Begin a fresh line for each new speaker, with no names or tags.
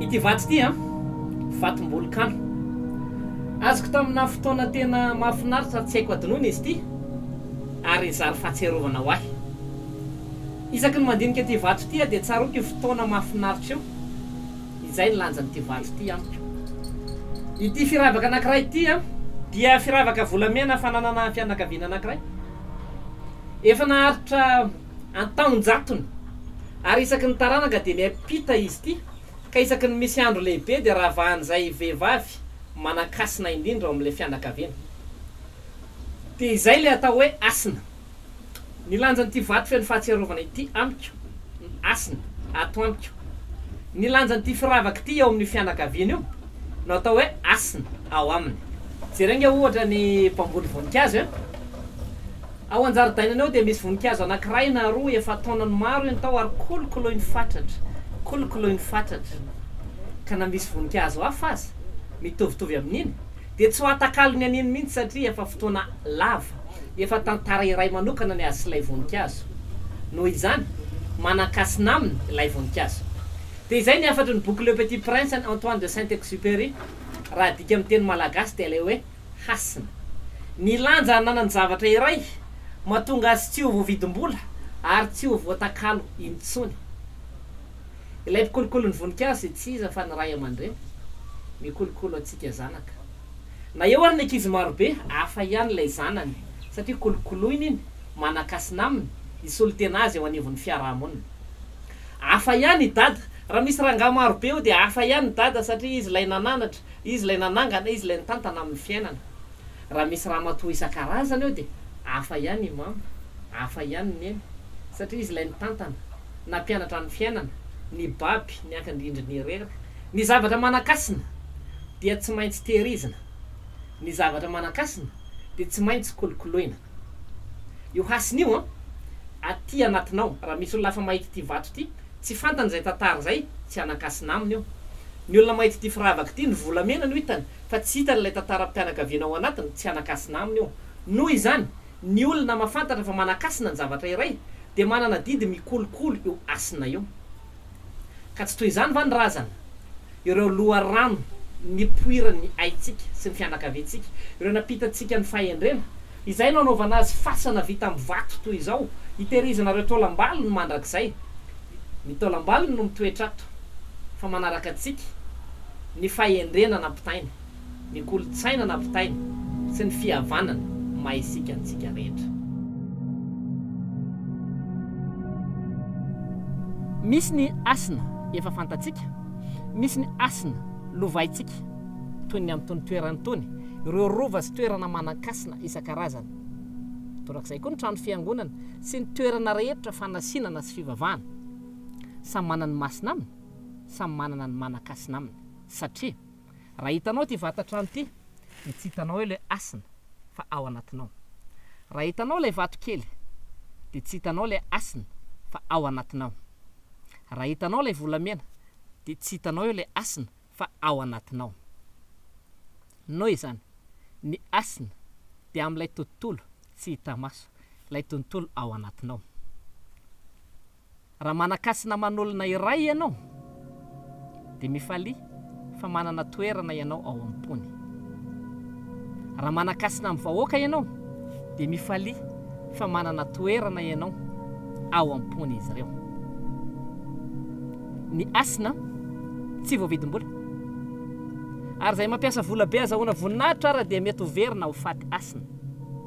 Ity vato ity an, vatom-bolokano. Azoko tamina fotoana tena mahafinaritra tsy haiko hadinoina izy ity ary zary fahatsiarovana ho ahy. Isaky ny mandinika ity vato ity aho dia tsaroako io fotoana mahafinaritra io. Izay ny lanjan'ity vato ity amiko. Ity firavaka anankiray ity an, dia firavaka volamena fananana fianakaviana anankiray. Efa naharitra an-taon-jatony, ary isaky ny taranaka dia miampita izy ity, ka isaky ny misy andro lehibe dia ravahan'izay vehivavy manan-kasina indrindra ao amin'ilay fianakaviana. Dia izay ilay atao hoe hasina. Ny lanjan'ity vato feno fahatsiarovana ity amiko no hasina ato amiko. Ny lanjan'ity firavaka ity eo amin'io fianakaviana io. no atao hoe hasina ao aminy. Jereo ange ohatra ny bamboly voninkazo e! Ao an-jaridainany ao dia misy voninkazo anankiray na roa efa taonany maro iny tao ary kolokoloiny fatratra, kolokoloiny fatratra, ka na misy voninkazo hafa aza mitovitovy amin'iny dia tsy ho atakalony an'iny mihitsy satria efa fotoana lava, efa tantara iray manokana ny azy sy ilay voninkazo. Noho izany, manan-kasina aminy ilay voninkazo. Dia izay ny hafatry ny boky Le Petit Prince an'i Antoine de Saint-Exupéry, raha adika amin'ny teny malagasy dia ilay hoe hasina. Ny lanja ananan'ny zavatra iray, mahatonga azy tsy ho voavidim-bola ary tsy ho voatakalo intsony. Ilay mpikolokolo ny voninkazo dia tsy iza fa ny ray aman-dreny, mikolokolo antsika zanaka. Na eo ary ny ankizy marobe, hafa ihany ilay zanany, satria kolokoloiny iny, manan-kasina aminy, hisolo tena azy eo anivon'ny fiarahamonina. Hafa ihany i Dada. Raha misy rangahy maro be eo dia hafa ihany i Dada satria izy ilay nananatra, izy ilay nanangana, izy ilay nitantana amin'ny fiainana. Raha misy ramatoa isan-karazany eo dia hafa ihany i Mama, hafa ihany i Neny satria izy ilay nitantana, nampianatra ny fiainana, nibaby, niankin-drindrina irery. Ny zavatra manan-kasina dia tsy maintsy tehirizina. Ny zavatra manan-kasina dia tsy maintsy kolokoloina. Io hasina io an! Aty anatinao, raha misy olona hafa mahita ity vato ity, tsy fantany izay tantara izay, tsy hanan-kasina aminy io. Ny olona mahita ity firavaka ity, ny volamena no hitany, fa tsy hitany ilay tantaram-pianakaviana ao anatiny, tsy hanan-kasina aminy io. Noho izany, ny olona mahafantatra fa manan-kasina ny zavatra iray, dia manana didy mikolokolo io hasina io. Ka tsy toy izany va ny razana? Ireo loharano nipoiran'ny aintsika sy ny fianakaviantsika, ireo nampitantsika ny fahendrena, izay no anaovana azy fasana vita amin'ny vato toy izao, hitehirizana ireo taolam-balony mandrakizay. Ny taolam-balony no mitoetra ato, fa manaraka antsika ny fahendrena nampitainy. ny kolontsaina nampitainy sy ny fihavanana maha isika antsika rehetra. Misy ny hasina efa fantatsika, misy ny hasina lovaintsika, toy ny amin'itony toerana itony, ireo rova sy toerana manan-kasina isan-karazany, torak'izay koa ny trano fiangonana sy ny toerana rehetra fanasinana sy fivavahana. Samy manana ny masina aminy, samy manana ny manan-kasina aminy, satria. Raha hitanao ity vatan-trano ity dia tsy hitanao eo ilay hasina fa ao anatinao. Raha hitanao ilay vato kely dia tsy hitanao ilay hasina fa ao anatinao. Raha hitanao ilay volamena dia tsy hitanao eo ilay hasina fa ao anatinao. Noho izany, ny hasina dia amin'ilay tontolo tsy hita maso, ilay tontolo ao anatinao. Raha manan-kasy naman'olona iray ianao, dia mifalia fa manana toerana ianao ao am-pony. Raha manan-kasina amin'ny vahoaka ianao, dia mifalia fa manana toerana ianao ao am-pon'izy ireo. Ny hasina tsy voavidim-bola. Ary izay mampiasa vola be azahoana voninahitra ary dia mety ho very na ho faty hasina.